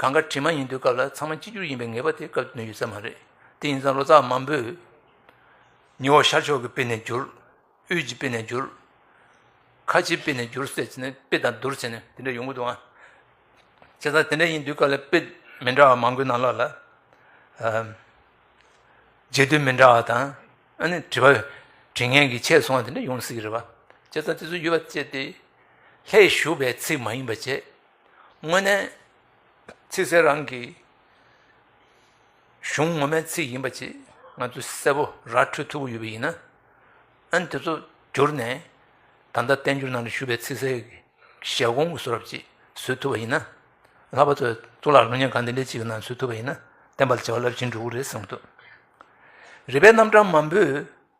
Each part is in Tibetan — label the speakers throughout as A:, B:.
A: གང་དགར་དྲི་མ་ཡིན་དུས་སྐབས་ལ་ཚང་མ་གཅིག་གྱུར་ཡིན་པའི་ངེས་པ་དེ་སྐབས་དོན་ཡོད་ས་མ་རེད་དེ་ཡིན་ཙང་ལོ་ཙཱ་བ་མང་པོས། ཉི་འོག་ཤར་ཕྱོགས་ཀྱི་དཔེ་ནས་བསྒྱུར། དབུས་ཀྱི་དཔེ་ནས་བསྒྱུར། ཁ་ཆེའི་དཔེ་ནས་བསྒྱུར་ཟེར་བྱས་ནས་དཔེ་དང་བསྡུར་བྱས་ནས་དེ་འདྲ་ཡོང་གི་འདུག་ཨང། བྱས་ཙང་དེ་འདྲ་ཡིན་དུས་སྐབས་ལ་དཔེ་མི་འདྲ་བ་མང་པོའི་ནང་ལོགས་ལ། རྗེས་ཟློས་མི་འདྲ་བ་དང། ཨ་ནི་དྲི་བ། དྲི་ངན་གྱིས་ཆད་སོང་བ་དེ་འདྲ་ཡོང་སྲིད་ཀྱི་རེད་པ། བྱས་ཙང་དེ་ཚོ་ཡོད་པ་བཅད་དེ། ལྷའི་བཞུགས་པའི་ཚིག་མ་ཡིན་པ་བཅད། དངོས་གནས། ཚིག་གསལ་རང་གི་གཞུང་ངོ་མའི་ཚིག་ཡིན་པ་ཅིག་ང་ཚོས་གསལ་པོ་ར་འཕྲོད་ཐུབ་པོ་ཡོད་པ་ཡིན་ན། ཨན་དེ་ཚོ་བསྒྱུར་ནས་ད་ལྟ་བསྟན་འགྱུར་ནང་དུ་བཞུགས་པའི་ཚིག་གསལ་གྱི་ཞལ་སྐོང་གི་སུ་རབ་ཅིག་བཟོས་ཐུབ་པ་ཡིན་ན། ལྷག་པ་ཚོས་གཙུག་ལག་ལུང་སྙན་གང་དེ་འདྲའི་ཅིག་གི་ནང་བཟོས་ཐུབ་པ་ཡིན་ན་བསྟན་པ་ལ་བྱ་བ་རླབས་ཆེན་འགྲོ་གི་རེད་བསམ་ཐུབ། རིག་པའི་རྣམ་གྲངས་མང་པོས་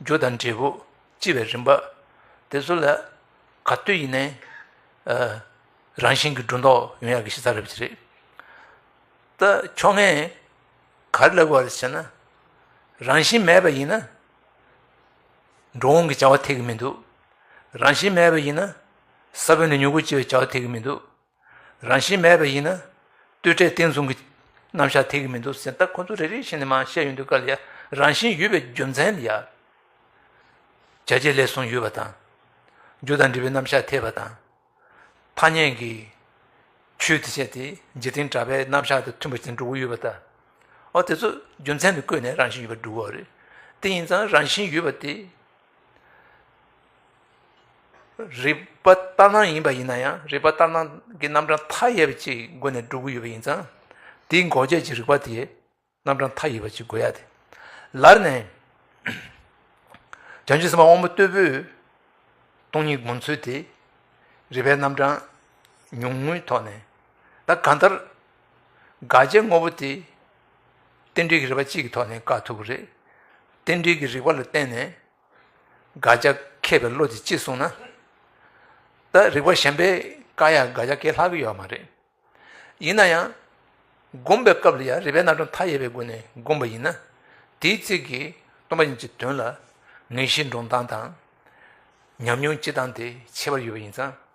A: རྒྱུ་དང་འབྲས་བུ་ལྕི་བའི་རིམ་པ། དེ་ཚོ་ལ་ག་དུས་ཡིན་ནའི་རང་བཞིན་གྱི་སྒྲོ་འདོགས་ཡོང་ཡག་གི་ཤེས་ཚ་རེད་བྱེད་རེད་ད་ཕྱོགས་ངས་ག་རེ་ལབ་དགོས་རེད་བྱས་ན་རང་བཞིན་མེད་པ་ཡིན་ན་འགྲོ་འོང་གི་བྱ་བ་ཐེག་གི་མི་འདུག་རང་བཞིན་མེད་པ་ཡིན་ན་ས་བོན་ནས་མྱུ་གུ་སྐྱེ་བའི་བྱ་བ་ཐེག་གི་མི་འདུག་རང་བཞིན་མེད་པ་ཡིན་ན། ལྟོས་འཕྲད་བརྟན་བཟུང་གི་རྣམ་གཞག་ཐེག་གི་མི་འདུག་ཟེར་ད་ཁོ་ཚོ་རེ་རེ་བཞིན་ནས་མང་བཤད་ཡོང་དུས་སྐབས་ལ་ཡ། རང་བཞིན་ཡོད་པའི་རྒྱུ་མཚན་ལ་ཡ། བྱས་རྗེས་ལས་གསུངས་ཡོད་པ་དང། རྒྱུ་དང་འབྲས་བུའི་རྣམ་གཞག་ཐེག་པ་དང། ཐ་སྙད་ཀྱི་ཆོས་དེ་བྱས་དེ་འཇིག་རྟེན་གྲགས་པའི་རྣམ་གཞག་དང་མཐུན་པ་བཞིན་འགྲོ་གི་ཡོད་པ་དང། འོ་དེ་ཚོ་རྒྱུ་མཚན་དུ་བཀོད་ནས་རང་བཞིན་ཡོད་པར་བསྒྲུབ་བ་རེད། དེ་ཡིན་ཙང་རང་བཞིན་ཡོད་པ་དེ། རིག་པ་ལྟར་སྣང་ཡིན་པ་ཡིན་ན་ཡང་རིག་པ་ལྟར་སྣང་གི་རྣམ་གྲངས་མཐའ་ཡས་པ་གཅིག་སྒོ་ནས་སྒྲུབ་ཀྱི་ཡོད་པ་ཡིན་ཙང་དེའི་འགོག་བྱེད་ཀྱི་རིག་པ་དེ་རྣམ་གྲངས་མཐའ་ཡས་པ་གཅིག་དགོས་ཡ་དེ་ལར་ནས་བྱང་ཆུབ་སེམས་དཔའ་དབང་པོ་རྟུལ་པོས་སྟོང་ཉིད་སྒོམ་ཚུལ་དེ་རིག་པའི་རྣམ་གྲངས་ཉུང་ངུའི་ཐོག་ནས་ད་གང་ལྟར་དགག་བྱའི་དངོས་པོ་དེ་རྟེན་འབྲེལ་གྱི་རིག་པ་གཅིག་གི་ཐོག་ནས་བཀག་ཐུབ་ཀྱི་རེད། རྟེན་འབྲེལ་གྱི་རིག་པ་ལ་བརྟེན་ནས། དགག་བྱ་མཁས་པའི་བློ་དེ་གཅིག་བཟུང་ན། ད་རིག་པ་གཞན་པས་བཀག་ཡག་དགག་བྱ་གས་ལྷག་གི་ཡོད་མ་རེད། ཡིན་ན་ཡང། སྒོམ་པའི་སྐབས་ལ་ཡང་རིག་པའི་རྣལ་འབྱོར་མཐའ་ཡས་པའི་སྒོ་ནས་སྒོམ་པ་ཡིན་ན། དེའི་ཚིག་གིས་སྟོང་པ་ཉིད་ཀྱི་དོན་ལ། ངེས་ཤེས་འདྲོངས་སྟངས་དང། ཉམས་མྱོང་སྤྱི་སྟངས་དེ་ཁྱད་པར་ཡོད་པ་ཡིན་ཙང།